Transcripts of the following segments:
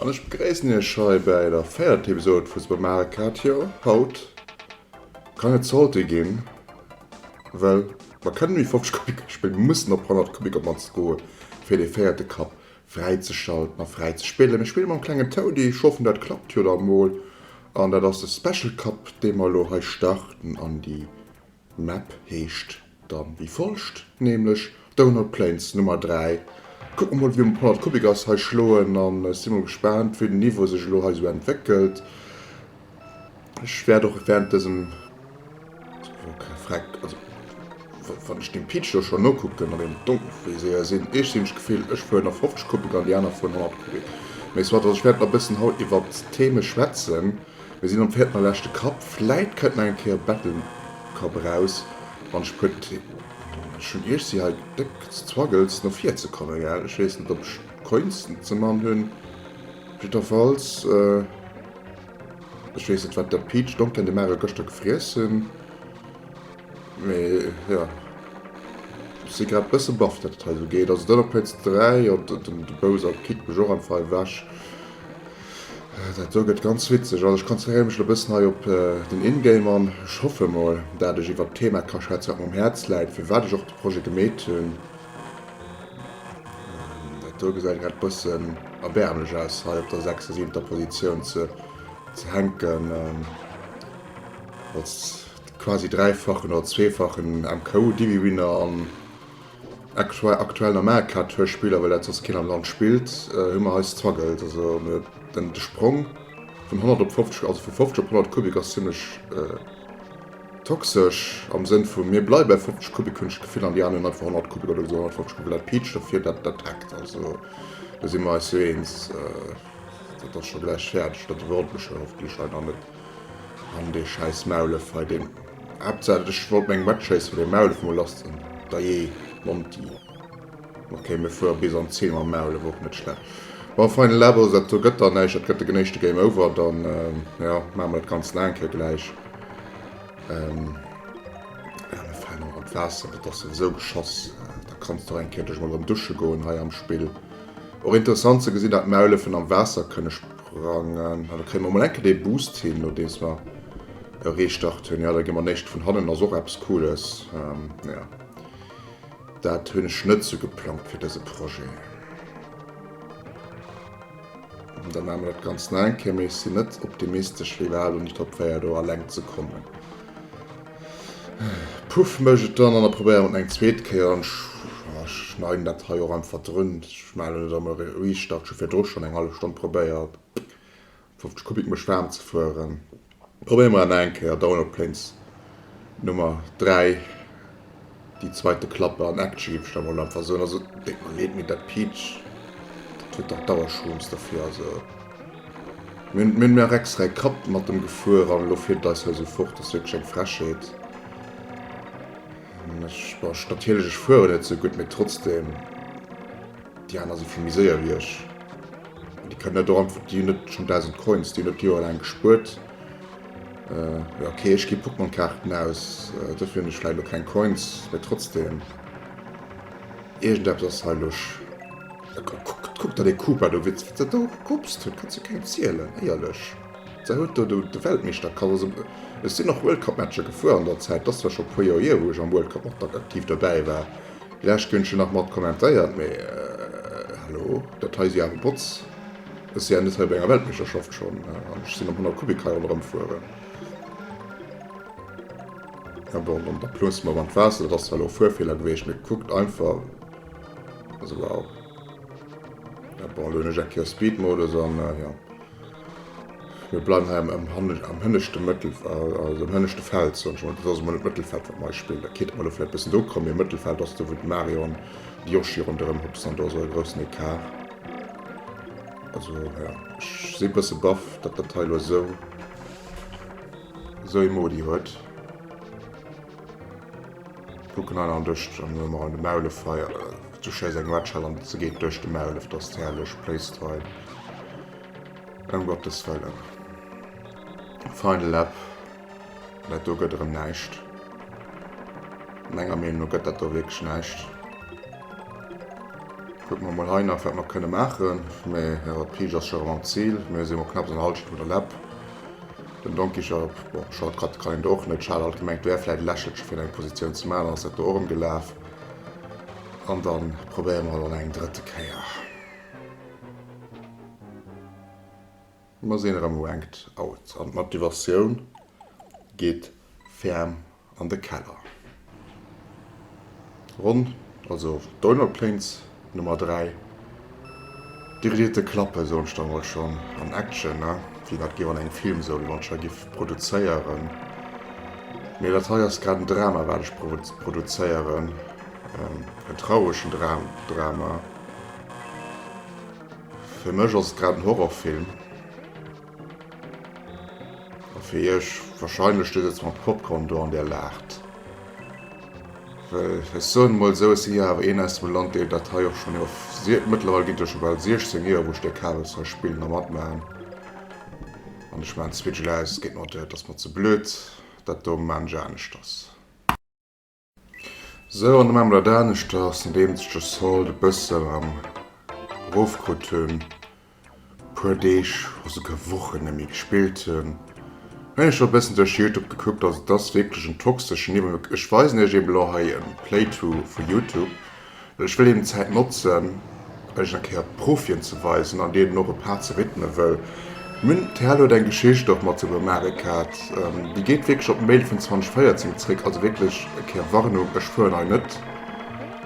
An ech begréissen Iech hei bäi der véierter Episode vu Supermarekadio. Haut Kann et Salté ginn? Well mer kënnen méi 50 Kubic Esch bréngen, mer mussen op 100 Kubic op mannst goe fir dee véierte Kapp fräizeschalten a fräi ze spillen. Mir spille mam klengen Toudi, schaffen dat klappt jo da mol an dat ass de Special Kapp dee mer elo hei starten an déi Map heescht. Dann wéi folgt, nämlech Donut Plains Nummer 3. Kucken mol wéi Paul an d'Kubik ass hei schloen an ech si mol gespaant wéi den Niveau sech elo hei sou entwéckelt. Ech wäert och während dësem Freck, also wann ech dem Peach elo schonn nokucken an en Donkelfriséier sinn, ech sinn ech d'Gefill ech fueren a 50 Kubik an déi aner fueren 100 Kubik, mee soit, also ech wäert nach e bëssen haut iwwert d'Theme schwätzen. Mir sinn am vierten a leschte Kapp, vläit kënnt nach eng Kéier e Bettelkapp eraus an ech putt schonn Iech si hei déck ze Zwaggels no vir ze kommen, gell? Ech weess net, ob ech d'Coins ze man hunn, op jiddwerfalls, ech weess net, wat der Peach Donken de Mare gëschter gefriess hunn, mee jo, ech si grad e bësse baff, datt et hei esou geet. Also, den op Plaz 3, jo, de Bowser Pit mécht och einfach ewech. Dat do gëtt ganz witzeg. Also ech konzentréiere mech elo e bëssen hei op den In-Game an ech hoffe mol, dat ech iwwert d'Thema ka schwätzen, wat mer um Häerz läit, firwat ech och de Projet gemeet hunn. Dat do gesäit grad e bëssen erbäermlech aus, hei op der sechster, siwenter Positioun ze hänken, als quasi dräifachen oder zweefachen MKU-Divi-Winner an Extra aktuell am Eck hat Hörspiler, well dat soss keen am Land spillt, hu mer hei Struggles. Also den de Sprong vun 100 op 50, also vu 50 op 100 Kubik ass zimlech toxesch am Sënn vu mir bleiwe bei 50 Kubik hunn ech d'Gefill an déi aner hunn einfach 100 Kubik oder esou 150 Kubik, well dat piitscht a fir dat dat hackt. Also do si mer eis jo eens, dat ass scho gläich fäerdeg, dat iwwerholt mech jo hoffentlech hei dann net. An dee schäiss Maulef hei deen. Haaptsaach ech wollt meng Matchrace fir de Maulef mol lass zënn. Dajee Monty. Okay mir fuere bis an d'Zil mam Maulef, och net schlecht. Bon final lap also dat do gëtt dann näischt, dat gëtt de genéischte Game over, dann jo maache mer dat ganz laang hei gläich. Jo mir falen och an d'Waasser, dat ass souwisou geschoss, da kanns de och eng Kéiertech mol erëm dusche goen hei am Spill. Och interessant ze gesinn dat d'Maulefen am Waasser kënne Prangen. Da kréie mer emol enke dee Boost hin, nodeems mer e Restart hunn. Jo, da gi mer néischt vun hannen, ass och eppes Cooles. Jo, dat hunn ech net sou geplangt fir dëse Projet. Da maache mer dat Ganzt nach eng Kéier, mee ech sinn net optimistesch, wéi war elo, ni Top 4 do eleng ze kommen. Puff mech et dann an a probéieren et eng zweet Kéier an ech schneiden dat hei och einfach drun. Ech malen et emmer riicht an ech hu virdru schonn eng hallef Stonn probéiert 50 Kubik mech waarm ze fueren. Probéiere mer et nach eng Kéier, Download Planes Nummer 3. Déi zweit de Klappe an Action ginn ech da mol einfach soen. Also déi do leet mir dat Peach dat huet dach Dauerschooss derfir. Also mir hunn mir hunn nach extra ee Kapp mat dem gefuer an elo fiert et eis heusou fort. Ass wierklech eng Frechheet. An ech bon ech natierlech ech fueren net sou gutt mee trotzdem déi aner si vill méi séier wéi ech. An déi kënnen dat och einfach déi hunn net schonn 1000 Coins déi hunn dat déi jo eleng gespuert. Ok ech gi Pokémon Kaarten aus, dofir hunn ech vläit lo keng Coins, mee trotzdeem iergendeppes ass hei lusch. Kuck der dee Koopa do, wéi se do gerupst huet, kanns du kengem zielen, éierlech. Sei huet do de Weltmeeschter kascht, also ech sinn och World Cup Matcher gefuer an der Zäit, et ass zwar scho e puer Joer hier wou ech am World Cup och aktiv dobäi war, vläicht hunn ech jo nach mat kommentéiert, mee hallo, dat hei si awer Bots. Ech si ja net hei bei enger Weltmeeschterschaft schonn an ech sinn am 100 Kubik hei ronderëm fueren. Mä bon, dann da plënnst mol mam d'Waasser. Dat ass zwar elo e Fuerfeeler geweecht, mee kuckt einfach. Also wow. Mä bon, elo hunn ech eng Kéier Speedmodus an jo. Mir bleiwen hei am hanneg, am hënneschte Mëttel, also am hënneschte Feld, soen ech mol. Dat ass emol net d'Mëttelfeld, wat mer hei spillen. Dat kéint emol elo vläicht e bëssen do kommen, mee Mëttelfeld ass do, wou de Mario an de Yoshi ronderëm hupsen an do ass och e groussen Ecart. Also ja, ech si e bësse baff, datt dat hei elo esou esou ee Modi huet. Kucken hei nach an duerch, an hu mer an de Maulef hei zu Chairs eng Red Shell an se geet duerch de Maulef, dat ass herrlech placed hei. Ëm Gottes wëllen. Final Lap. Dat do gëtt erëm näischt. Menger Meenung no gëtt dat do wierklech näischt. Kucke mer mol hei nach, wat mer kënne maachen. Mee jo, d'Pige ass scho erëm am Zil. Mir si mol knapps an der Hallschent vun der Läpp. Den Donkey Shop, bon, Short Cut kann een do och net. Charel hat gemengt, et wär vläicht e Lächelche fir eng Positioun ze maachen, dann ass dat do och erëm gelaf. An da probéiere mer et an eng drëtte Kéier. Mer sinn erëm Ranked Out an d'Motivatioun geet ferm an de Keller. Ronn also Donut Plains Nummer 3. Déi Vedetë klappe soen ech da mol schonn an Action, wéi dat géif an engem Film sou Launcher giff produzéieren. Mee dat hei ass grad en Drama wat ech produzéieren, en trauregen Drama. Fir mech ass et grad en Horrorfilm. A fir iech wahrscheinlech. Dir sëtzt mat Popcorn do an dir laacht. Well ech soen emol esou, ech si jo awer een aus dem Land, dee dat hei och schonn iwwer sie. Mëttlerweil ginn et jo scho bal 16 Joer, wou ech dee Kabels hei spillen a matmaachen. An ech maachen d'Switchel aus. Geet mer, dat ass mer ze blöd. Dat do maachen ech aneschters. Sou an emem dat aneschters, nodeems ech de Salt e bëssen am rof krut hunn, e puer Deeg oder souguer Wochen net méi gespillt hunn, hunn ech elo e bëssen duerch Youtube gekuckt, ass et ass wierklech en toxeschen Iwwerfluss, ech weisen iech eben elo hei e Playthrough vu Youtube, Ech wëll eben d'Zäit notzen, Iech eng Kéier d'Profien ze weisen an deenen och e Part ze widme wëll mir. D'Perle huet eng Geschicht och mat Super Mare Kart, déi geet wierklech op Mail vun 2014 zréck. Also wierklech e Kéier Warnung, ech fueren hei net,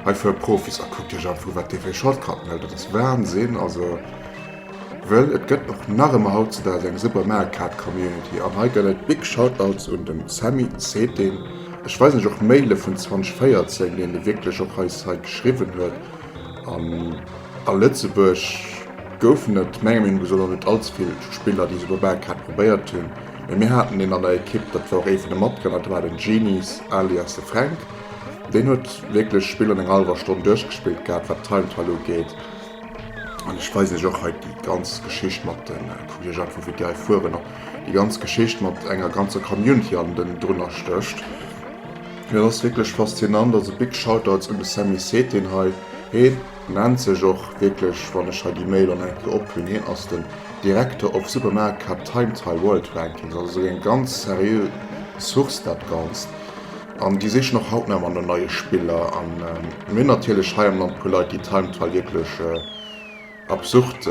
hei fuere Profis. A kuckt Iech einfach u wat déi fir Shortcutten huet, dat ass Wahnsinn. Also. Well et gëtt och nach ëmmer hautzedags eng super Meerkat Community an hei gëtt et big Shoutouts un den Sammy Zetin, ech weisen iech och Maile vun 2014 deen e wierklech och eis hei geschriwwen huet an a Lëtzebuerg goufen et menger Meenung esou nach net allzevill Spiller déi super Meerkat probéiert hunn mee mir haten een an der Ekipp dat war och ee vun de Matgrënner dat war den Genies alias de Fränk deen huet wierklech Spill an enger hallwer Stonn duerchgespillt gehat wat Time Trial ugeet. An ech weisen iech och hei déi ganz Geschicht mat de Kolleegen, vu wéi déi hei fueren, an déi ganz Geschicht mat enger ganzer Community an den drunner stécht. Mee et ass wierklech faszinant. Also big Shoutouts un de Sammy Setin hei. Heen nennt sech och wierklech, wann ech hei déi Mail an eng Kéier ophullen, heen ass den Director of Supermarket Cup Time Trial World Rankings. Also esou eng ganz seriö Source dat Ganzt. An déi sichen och haut nach ëmmer no neie Spiller. A mir hunn natierlech hei am Land e puer Leit, déi Timetoy wierklech absurd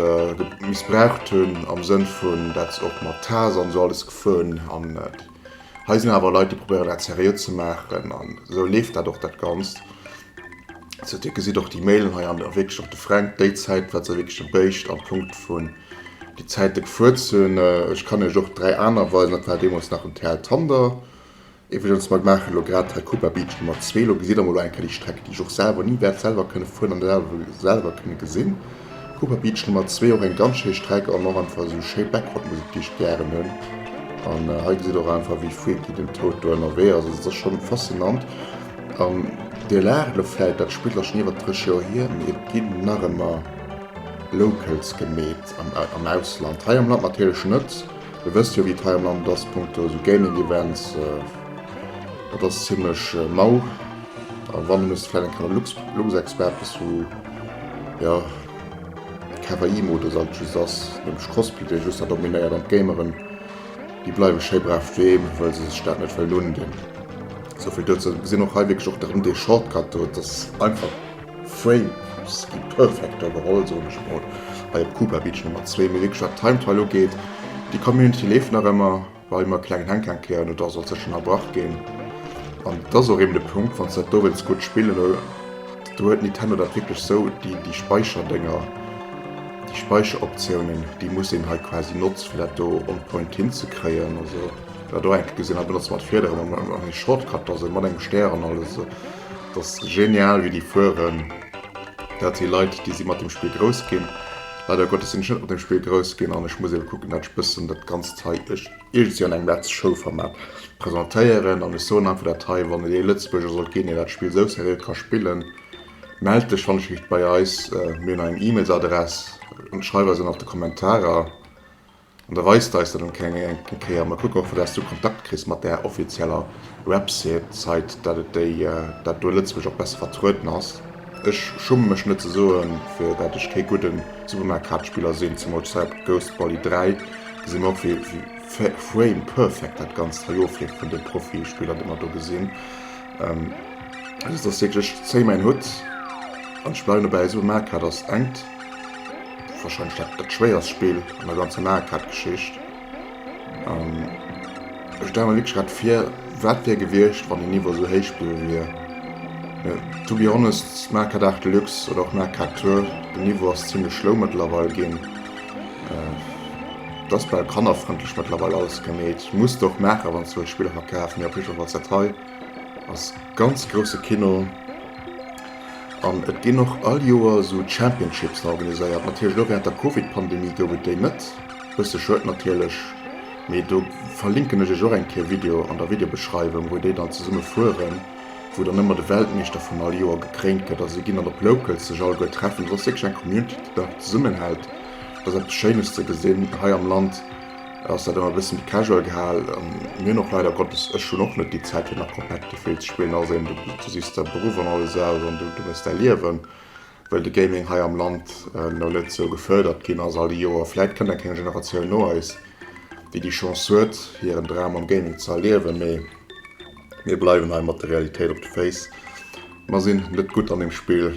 missbraucht hunn, am Sënn vun, dat se och mat Taser an esou alles gefueren. An hei sinn awer Leit, déi probéieren, dat seriö ze maachen. An esou leeft dat och, dat Ganzt. Sou, Dir gesitt och déi Mailen hei, an wierklech och de Fränk, déi Zäit wat se wierklech e béischt am Punkt vun déi Zäite gefuert sinn. Ech kann Iech och dräi aner weisen, dat war deemools nach en TL Thunder, Iwwregens, mer maachen elo grad Tacuba Beach Nummer zwee. Elo gesitt Der mol eng Kéier déi Streck, déi ech och selwer ni wäert selwer kënne fueren an selwer kënne gesinn. Cuba Beach Nummer zwee, och eng ganz schéi Streck an och einfach esou schéi Backgroundmusek, déi ech gären hunn. An hei gesitt Der och einfach, wéi freaky den Toad do ënnerwee ass. Also et ass schonn faszinant. An Dir laacht elo vläit, dat spillt elo schonn iwwert 30 Joer hier, mee et ginn nach ëmmer Locals gemeet am Ausland. Hei am Land natierlech net. Dir wësst jo wéi d'Hai am Land ass punkto esou Gaming Events, dat ass zimlech mau a wann da muss vläit eng Kéier de Luxexpert bis zu jo Kawaii Modus alt just ass, nämlech Cosplay dee just da dominéiert an d'Gameren déi bleiwe schéi brav doheem well se sech dat net wëllen undinn. Esou vill dozou. Mir gesinn och hei wierklech och datt en dee Shortcut huet, datt einfach Frames gi perfekt overall, soen ech mol, hei op Cuba Beach Nummer 2. Mee wéi geschwat, Time Trial ugeet, déi Community leeft nach ëmmer, well ëmmer e klengen Hänkhank hir an oder sollt sech ënnerbrach ginn. An et ass och eben de Punkt, wann s de dat do wëlls gutt spillen, lo do huet Nintendo dat wierklech sou, déi déi Speicherdénger, déi Speicheroptiounen, déi muss een hei quasi notze fir dat do on point hinzekréien. Also, wat der och eng Kéier gesinn hat, benotzt mat Fiederen an eng Shortcut da, sou mat engem Stär an alles. Dass genial wéi déi fueren. Dat si Leit déi si mat dem Spill grouss ginn. Leider Gottes sinn ech net mat dem Spill grouss ginn an ech muss eben kucken dat ech bëssen dat ganzt hei iergendwéi an engem Let's Show Format presentéieren an ech soen einfach dat hei, wann et ee Lëtzebuerger sollt ginn deen dat Spill sou seriö ka spillen, mellt dech wannechrichst bei eis, mir hunn eng E-Mails Adress, schreif eis an op de Kommentarer. An da weis d'eis dat eng eng Kéier. Mer kucken och vu dass du Kontakt kriss mat där offizieller Website, dat et déi dat do Lëtzebuerg och besser vertrueden ass. Ech schumme mech net ze soen fir dat ech kee gudde Supermarkkaartspiller sinn, zemools d'Site Ghost Volley 3 gesi mer och wéi frame perfect dat ganzt hei ofleeft vun de Profispiller déi mer do gesinn. Also et ass wierklech, ech zéi mäin Hutt an ech bleiwen dobäi, Supermarkkaart ass engt. Wahrscheinlech dat dat schwéierst Spill an der ganzer Mario Kart Geschicht. Ähm, ech stelle mir wirklich grad vir, wat wär gewiescht, wann den Niveau sou héich bliwwe wier. Äh, to be honest, Mario Kart 8 Deluxe oder och Mario Kart Tour, den Niveau ass zimmlech schlow mëttlerweil ginn. Äh, et ass bal kannerfrëndlech mëttlerweil alles gemeet. Muss de och maachen, wann s de wëlls Spiller verkafen, mee op jiddwer Fall dat hei ass ganz grousse Kino. An et ginn och all Joer esou Championships organiséiert. Natierlech elo wärend der Covid-Pandemie gouf et déi net. Bësse schued natierlech, mee do verlinken ech iech och eng Kéier Video an der Videobeschreiwung, wou déi dann zesumme fueren, wou dann ëmmer de Weltmeeschter vun all Joer gekréint gëtt. Also si ginn dann op Locals sech alleguer treffen. Dat ass wierklech eng Community, déi dann zesummenhält. Dat ass eppes Schéines ze gesinn hei am Land. Ass dat ëmmer e bëssen casual gehal an mir hunn och leider Gottes, ech hunn och net déi Zäit fir nach komplett de Feel ze spillen, ass eben, du sichs der Beruff an alles aus an du méchs däi Liewen, wëll de Gaming hei am Land elo net esou gefërdert ginn ass all déi Joer. Vläit kënnt eng kleng Generatioun no eis, déi déi Chance huet, hiren Dram am Gaming ze erliewen, mee mir bleiwen hei mat der Realitéit op de Féiss, mer sinn net gutt an deem Spill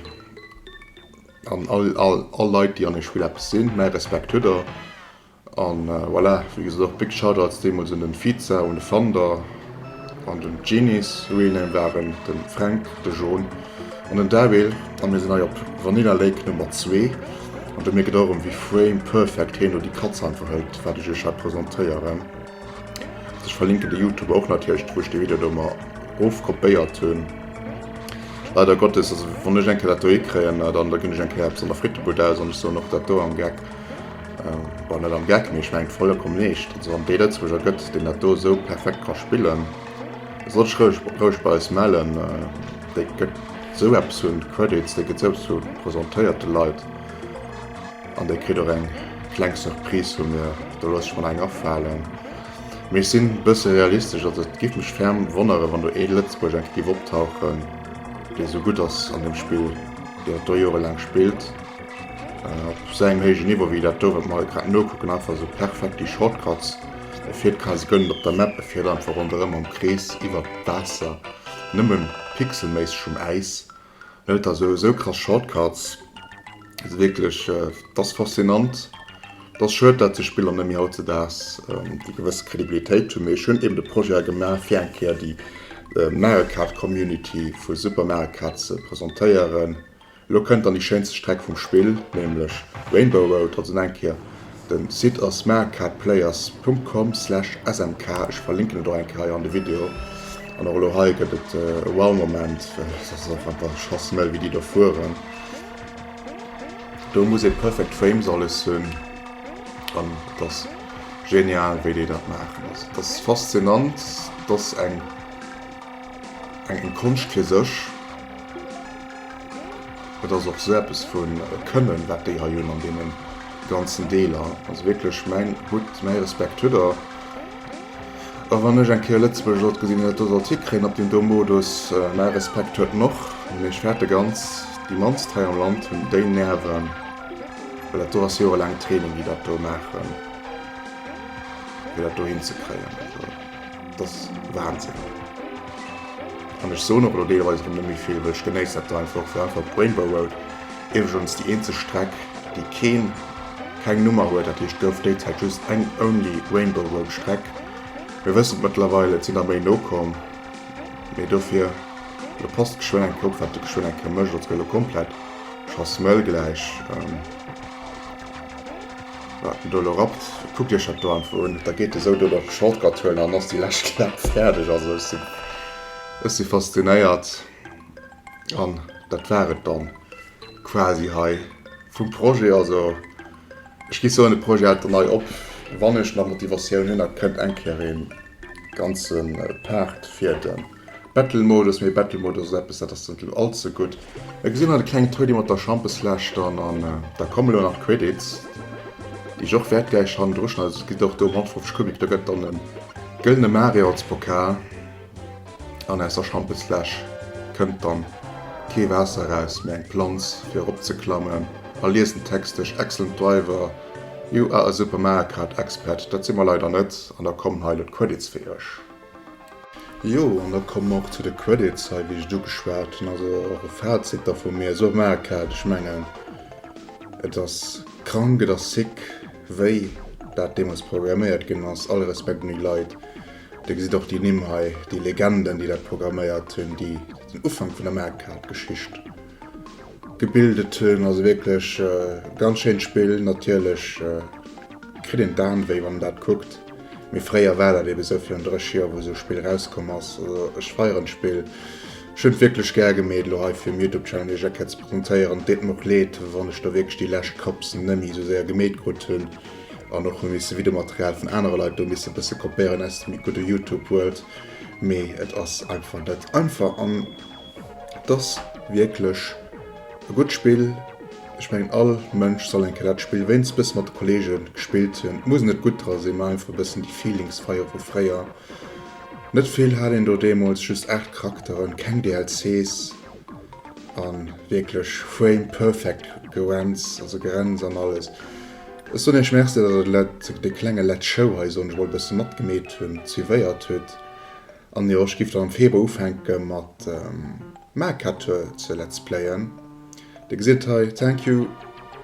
an all Leit, déi an deem Spill eppes sinn, mäi Respekt hutt der. An voilà, wéi gesot, och d'Big Shoutouts deemools un den Fiza, un de Fander an den Genies, wéi en eng waren, den Fränk, de John an den Daryl. An mir sinn hei op Vanilla Lake Nummer 2 an do mierkt och erëm wéi frame perfect heen do déi Katz einfach hëlt wat ech iech hei presentéieren. Ech verlinken de Youtuber och natierlech, wou ech dee Video do mer erof kopéiert hunn. Leider Gottes, also wann ech eng Kéier dat do hikréien, dann da ginn ech eng Kéier eppes an der Frittebud aus an ech soen och dat do am Geck. Bon net am Geck, mee ech mengen vollkomm leescht, also wann et ee Lëtzebuerger gëtt deen dat do esou perfekt ka spillen, da soll sech roueg bei eis mellen, dee gëtt esou eppes un Credits, dee gëtt esou eppes vu presentéiert de Leit an dee kritt och eng kleng Surprise vu mir, do looss ech mer nach eng afalen. Mee ech sinn e bësse realistesch, also et géif mech ferm wonneren, wann do ee Lëtzebuerger enke géif optauchen, dee esou gutt ass an deem Spill, deen et do jorelaang spillt. Op esou engem héijen Niveau wéi dat do, wat mer hei grad nokucken, einfach esou perfekt déi Shortcuts, e fir d'Kase gëllen op der Map, e fiert einfach ronderëm am Krees iwwert d'Waasser, nëmme pixelméisseg um Äis. Net, et ass esou krass Shortcuts, et ass wierklech, et ass faszinant. Et ass schued, dat sou Spiller net méi hautzedaags déi gewësse Kredibilitéit hunn. Mee ech hunn eeben de Projet hei gemaach, fir eng Kéier déi Mario Kart Community vu Super Mario Kart ze presentéieren. Elo kënnt dann déi schéinste Streck vum Spill, nämlech Rainbow Road. Also nach eng Kéier, den Site ass maricardplayers.com/smk, ech verlinken et och eng Kéier hei an de Video. An och elo hei gëtt et e Wow-Moment, well et ass einfach der Schoss mëll wéi déi do fueren. Do muss ee perfect frames alles hunn an et ass genial wéi déi dat maachen. Also et ass faszinant, et ass eng. Eng Konscht fir sech. Et ass och sou eppes vu Kënnen, wat déi hei hunn an deene ganzen Deeler. Also wierklech mäin Hutt, mäi Respekt hutt Der. A wann ech eng Kéier Lëtzebuergesch sollt gesinn an et do sollt hikréien op deen do Modus, mäi Respekt huet en och. Mee ech fäerte ganz, déi mannst hei am Land hunn déi Nerven, well dat do ass jorelaangt Training, déi dat do maachen, fir dat do hinzekréien. Et ass Wahnsinn. An ech soen och elo deelweis erëm net méi vill, well ech genéiss dat elo einfach. Fir einfach d'Rainbow Road, iwwregens déi eenzeg Streck, déi keen, keng Nummer huet, dat heescht gouf déi Zäit just eng Only Rainbow Road Streck. Mir wëssen et mëttlerweil, et sinn der méi nokomm, mee dofir de Post geschwënn eng Kopp, wat de geschwënn eng Kéier mécht. Als gëtt elo komplett Chasmël gläich. Wat den doe lo rappt, kuckt iech dat do einfach un. Da geet e sou do de Shortcut huelen an dann ass déi lescht Klapp fäerdeg. Also ech sinn, ech si faszinéiert. An dat war et dann quasi hei vum Projet. Also ech gi soen, de Projet hält dann hei op, wann ech nach Motivatioun hunn. Da kënnt eng Kéier ee ganze Part fir de. Battle-Modus, mee Battle-Modus ass eppes, dat ass net elo all ze gutt. Hei gesitt mer de klengen Toni mat der Schampesfläsch dann an da kommen elo nach d'Credits, déi ech och wäert gläich hannendru schneiden. Also et geet och do ëm 150 Kubik. Da gëtt dann e gëllene Mario als Pokal an aus der Schampesfläsch kënnt dann kee Waasser eraus, mee eng Planz fir erop ze klammen. A liest den Text duerch, Excellent driver, you are a Super Mario Kart expert. Dat si mer leider net an da kommen hei elo d'Credits fir iech. Jo, an da komme mer och zu de Credits hei, wéi ech et ugeschwat hunn. Also och e Fazit da vu mir. Sou maach et! Ech mengen, et ass krank, et ass sick, wéi dat deemools programméiert ginn ass. All Respekt un déi Leit. Dir gesitt och déi Nimm hei, déi Legenden, déi dat programméiert hunn, déi den Ufank vun der Maach-et-Geschicht Gebildet hunn. Also wierklech e ganz schéint Spill. Natierlech kritt een d'Aarmwéi wann een dat kuckt, mee fréier war dat eebe sou, virun 30 Joer wou esou e Spill erauskomm ass. Also ech feieren d'Spill, ech hunn et wierklech gär gemee et elo hei fir um Youtube Channel iech eng Kéier ze presentéieren. Et deet mer och leed wann ech do wierklech déi lescht Cups nemme esou séier gemeet krut hunn an och hu misse Videomaterial vun anere Leit do misse bësse kopéieren aus dem gudde Youtube World, mee et ass einfach net einfach an. Et ass wierklech e gutt Spill. Ech mengen all Mënsch soll eng Kéier dat Spill wéinst bësse mat de Kollege gespillt hunn. Et muss net gutt dra sinn, mä einfach e bëssen déi Feelings feiere vu fréier. Net vill hat een do deemools, just 8 Charakteren, keng DLCs a wierklech frame perfect Gerenz, also Gerenz an alles. Ech soen iech Merci, datt der de klenge Let Show hei, soen ech mol, e bësse matgemeet hunn, suivéiert hutt. An jo ech giff dann am Februar ufänken mat Mercatur ze let's playen. Dir gesitt et hei, thank you,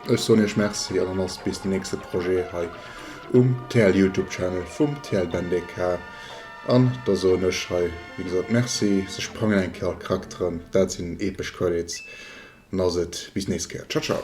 ech soen iech merci an dann ass bis den nächste Projet hei um TL Youtube Channel vum TL BenDK an da soen ech hei wéi gesot merci, se sprangen eng Kéier all d'Charakteren, dat sinn epesch Credits, an da ass et bis nächst Kéier, ciao ciao.